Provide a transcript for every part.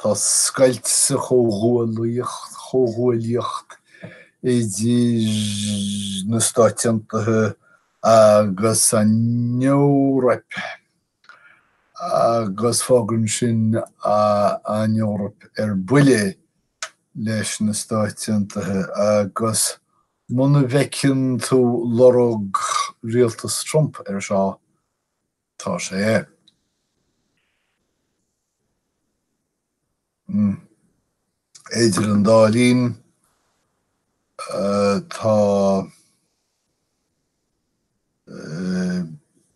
Tá scoilt sa chomhghuaillíocht idir na Stáit Aontaithe agus an Eoraip, agus fágann sin an Eoraip ar buile leis na Stáit Aontaithe, agus muna bhfeiceann tú lorg Rialtas Trump ar seo, Tá sé, idir an dá linn, tá,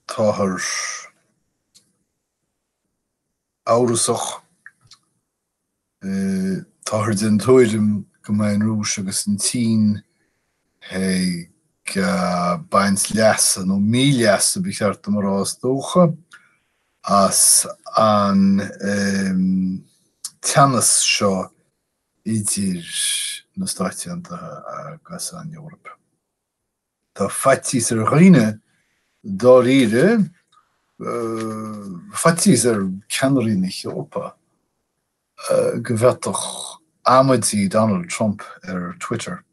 táthar amhrasach Táthar den tuairim go mbeidh an Rúis agus an tSín ag baint leasa, nó míleasa ba cheart dom a rá is dócha, as an teannas seo idir na Stáit Aontaithe agus an Eoraip. Tá faitíos ar dhaoine dáiríre, faitíos ar cheannairí na hEorpa, go bhféadfadh amaidí Donald Trump ar Twitter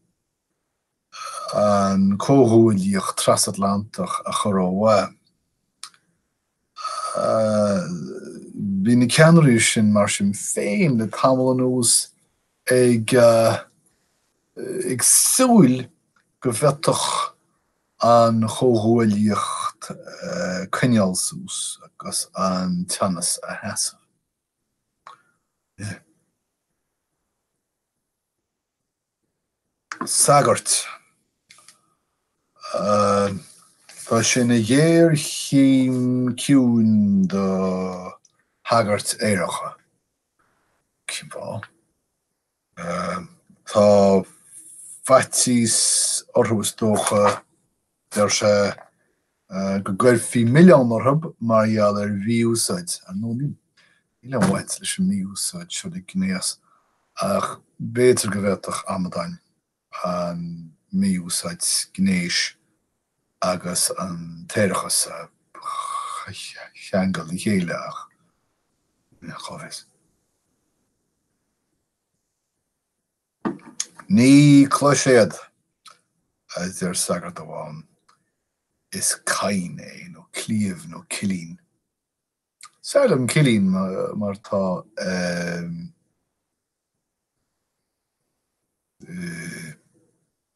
an comhghuaillíocht trasatlantach a chur ó mhaith. Bhí na ceannairí sin, mar sin féin, le tamall anuas ag súil go bhféadfadh an chomhghuaillíocht coinneáil suas agus an teannas a sheasamh. sagairt. Tá sé ina ghéarchéim chiúin do shagairt aeracha. Tá faitíos orthu is dócha. Deir sé go gcuirfí milleán orthub mar gheall ar mhí-úsáid. Ar ndóigh, níl aon bhaint ag an mí-úsáid seo le gnéas, ach b'fhéidir go bhféadfadh amadáin an mí-úsáid gnéis agus an t-aerachas a cheangal le chéile, ach cá bhfios. Ní cloiséad! arsa sagart amháin. Is caighean é, nó cliabh, nó cillín. Is fearr liom cillín mar tá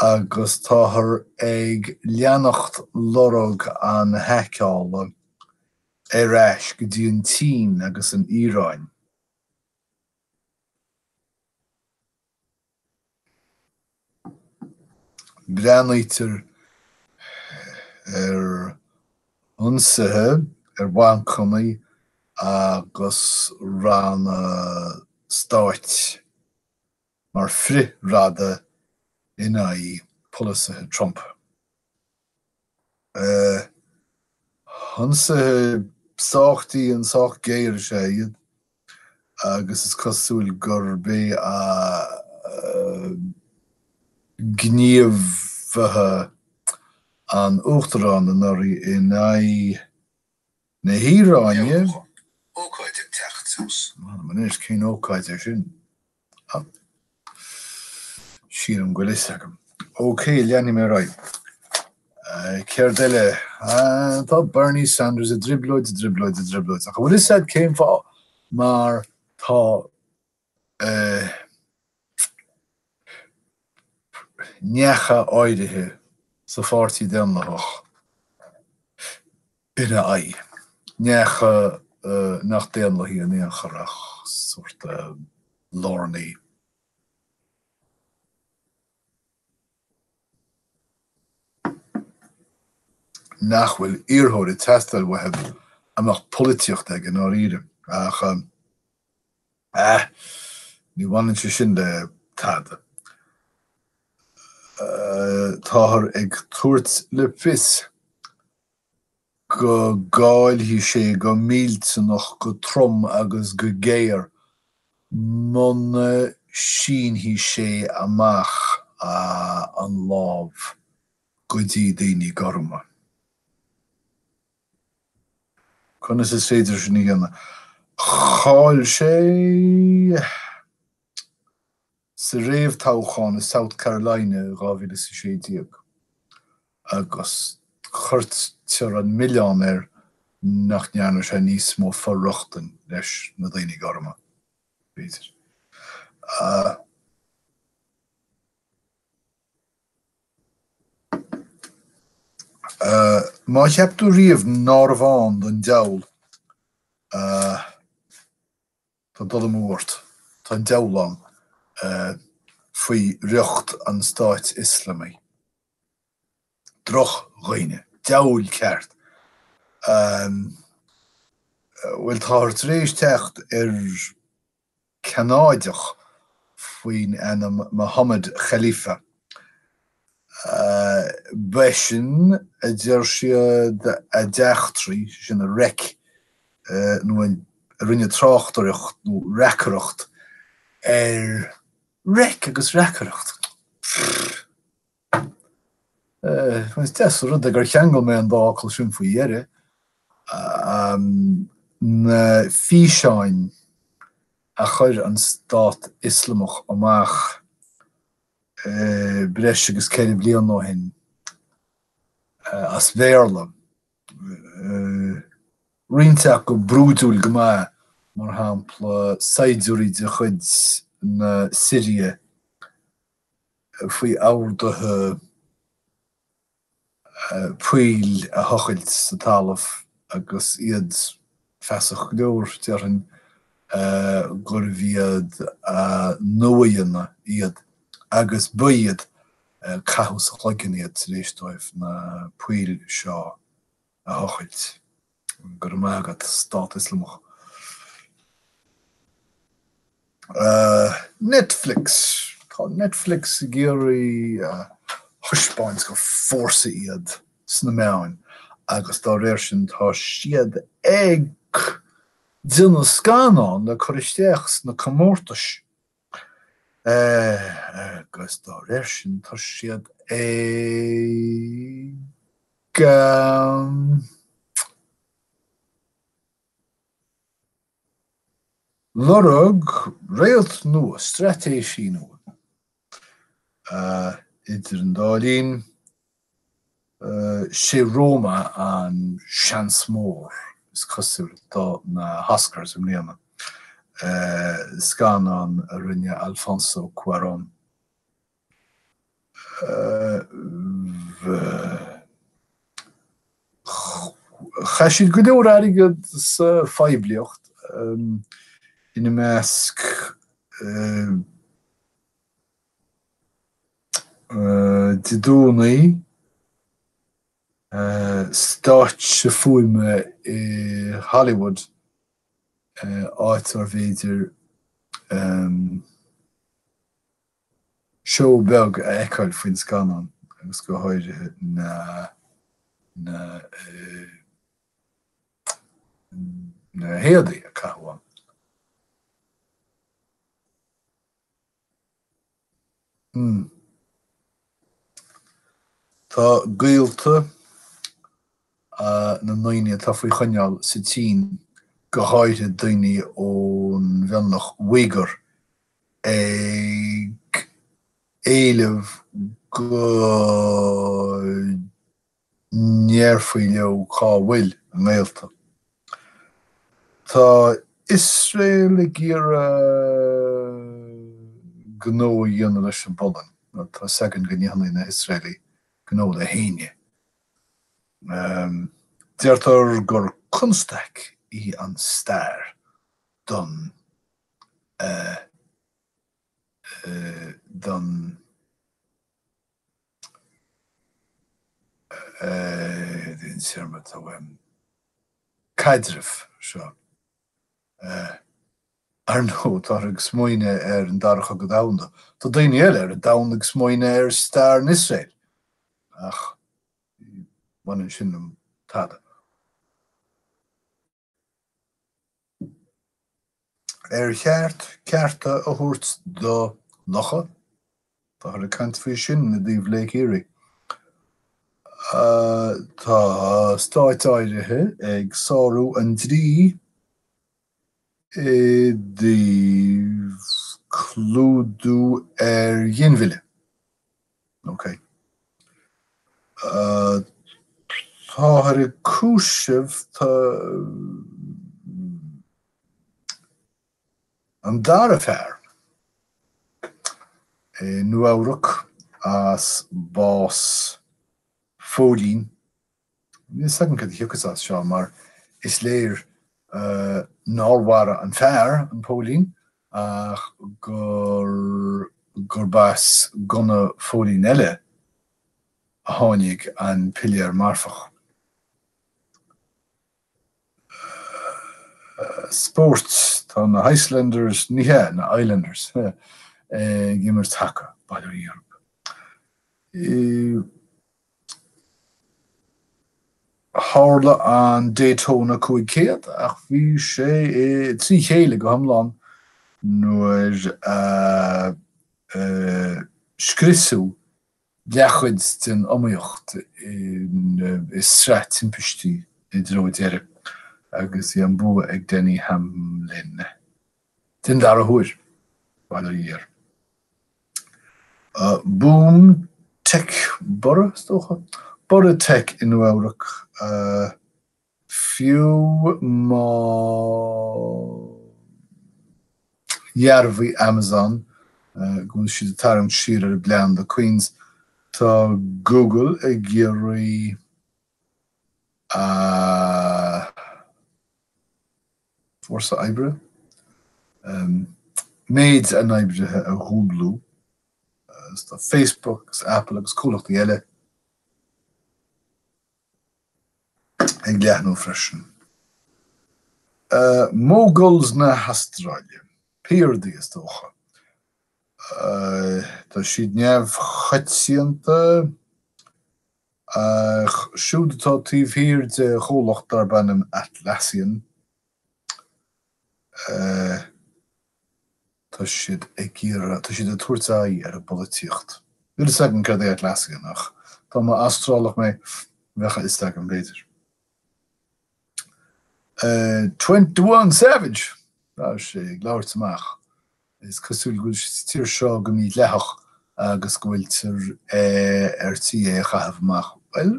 agus táthar ag leanacht lorg an haiceála ar ais go dtí an tSín agus an Iaráin. Breathnaítear ar ionsaithe ar bhancanna agus ranna stáit. mar frithbhearta in aghaidh polasaithe Trump. Ionsaithe sách dian, sách géar is ea iad agus is cosúil gurb é gníomhartha an Uachtaráin anuraidh in aghaidh na hIaráine, Deabhóid, ócáid ag teacht suas. M'anam anois, cén ócáid é sin? Ach sílim go bhfuil a fhios agam. Ok, leanfaidh mé ar aghaidh. Céard eile? Ah, tá Bernie Sanders i dtrioblóid, i dtrioblóid, i dtrioblóid. Ach an bhfuil a fhios a'd cén fáth? Mar tá, eh, neacha áirithe sa pháirtí daonlathach. ina aghaidh. Neacha nach daonlathaigh in aon chor ach sórt lárnaithe. nach bhfuil iarrthóir ag teastáil uathu a mbeadh polaitíocht aige i ndáiríre. Ach eh ní bhaineann sé sin le tada. Táthar ag tabhairt le fios go gcaillfidh sé go millteanach, go trom agus go géar muna sínfidh sé amach an lámh go dtí daoine gorma. Conas is féidir sin a dhéanamh? Chaill sé. sa réamhthoghchán i South Carolina i 2016 agus cuirtear an milleán air nach ndearna sé níos mó for-rochtain leis na daoine gorma, b'fhéidir. Má cheap tú riamh nárbh ann don deabhal, Tá dul amú ort. Tá an deabhal ann faoi riocht an Stáit Ioslamaigh. Drochdhaoine. Deabhail cheart. Bhuel, táthar tar éis teacht ar Cheanadach faoin ainm Mohammed Khalifa. B'eisean a deir siad a d'eachtraigh, sin a reic nó a rinne tráchtaireacht nó reacaireacht ar. Reic agus reacaireacht. Pfff. Is deas an rud é gur cheangail mé an dá fhocal sin faoi dheireadh. Na físeáin a chuir an Stát Ioslamach amach breis agus ceithre bliana ó shin as Béarla, roinnt acu brúidiúil go maith, mar shampla saighdiúirí de chuid na Siria faoi orduithe poill a thochailt sa talamh agus iad feasach go leor, déarfainn, gurbh iad a n-uaigheanna iad agus ba iad caitheadh sa chloigeann iad tar éis dóibh na poill seo a thochailt. Go raibh maith agat, Stát Ioslamach. Netflix, Tá Netflix ag iarraidh a thaispeáint gur fórsa iad sna meáin agus dá réir sin tá siad ag déanamh scannáin le cur isteach sna comórtais. agus dá réir sin tá siad ag lorg réalt nua, straitéisí nua. Idir an dá linn, sé Roma an seans mór, is cosúil, do na hOscars i mbliana, scannán a rinne Alfonso Cuarón. Chaith siad go leor airgid sa phoiblíocht, ina measc, Dé Domhnaigh, stáitse fuaime i Hollywood, áit arbh fhéidir seó beag a fheiceáil faoin scannán agus go háirithe na héadaí a caitheadh ann. Tá gaolta na ndaoine atá faoi choinneáil sa tSín, go háirithe daoine ón mhionlach Uighur, ag éileamh go ndéarfaí leo cá bhfuil a ngaolta? Tá Iosrael ag iarraidh gnó a dhéanamh leis an bPolainn, nó tá 's againn go ndéanfadh na hIosraelaigh gnó le héinne. Deirtear gur constaic í an stair don don. caidrimh seo. Ar ndóigh, táthar ag smaoineamh ar an Dara Cogadh Domhanda. Tá daoine eile ar an domhan ag smaoineamh ar stair Iosrael, ach ní bhaineann sin liom tada. Ar cheart cearta a thabhairt do locha? Táthar ag caint faoi sin i dtaobh Lake Erie. Tá stáit áirithe ag sárú an dlí i dtaobh clúdú ar ghinmhilleadh. Ok. Táthar ag cúiseamh an dara fear i Nua-Eabhrac as bás phóilín Níl 's againn céard a thiocfas as seo mar is léir nár mharaigh an fear an póilín ach gur gurb as gunna phóilín eile a tháinig an piléar marfach. Spórt Tá na hIcelanders, ní hea, na Islanders, ag imirt haca, bail ó Dhia orthu. Tharla an Daytona 500 ach bhí sé trí chéile go hiomlán nuair a scriosadh leathchuid den iomaíocht i sraith timpistí i dtreo deireadh agus bhí an bua ag Denny Hamlin. Den dara huair, by the year. Boom Tech Borradh, is dócha? Borradh Tech i Nua-Eabhrac, fiú má dhearbhaigh Amazon go bhfuil siad ag tarraingt siar ar a bplean do Queens, tá Google ag iarraidh a. fórsa oibre, méid a n-oibrithe a dhúblú, agus tá Facebook agus Apple agus comhlachtaí eile ag leathnú freisin. Moguls na hAstráile, piardaí is dócha. Tá siad neamhchoitianta Ach siúd atá taobh thiar de chomhlacht darb ainm Atlassian, tá siad ag iarraidh, tá siad ag tabhairt aghaidh ar an bpolaitíocht. Níl a fhios agam cad é Atlassian ach dá mba Astrálach mé, bheadh a fhios agam b'fhéidir. Twenty One Savage! Bhí sé ag labhairt amach. Is cosúil go bhfuil sé sa tír seo go mídhleathach agus go bhfuiltear ar tí é a chaitheamh amach. Bhuel,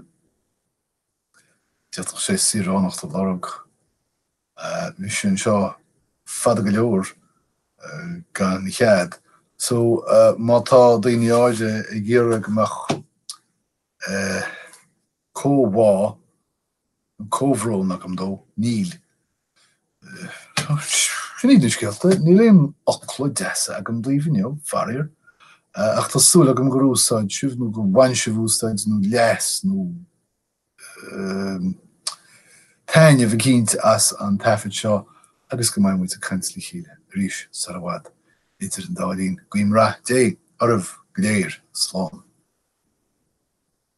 d'fhéadfadh sé saoránacht a lorg. Bhí sé anseo fada go leor gan chead. So, má tá daoine áirithe ag iarraidh go mbeadh comhbhá, nó comhbhrón agam dó. Níl. Sin iad na scéalta. Níl aon fhocal deasa agam daoibh inniu, faraor, ach tá súil agam gur úsáid sibh, nó gur bhain sibh úsaid, nó leas, nó taitneamh eicínt as an taifead seo, agus go mbeidh muid ag caint le chéile arís sar i bhfad. Idir an dá linn, guím rath Dé oraibh go léir. Slán.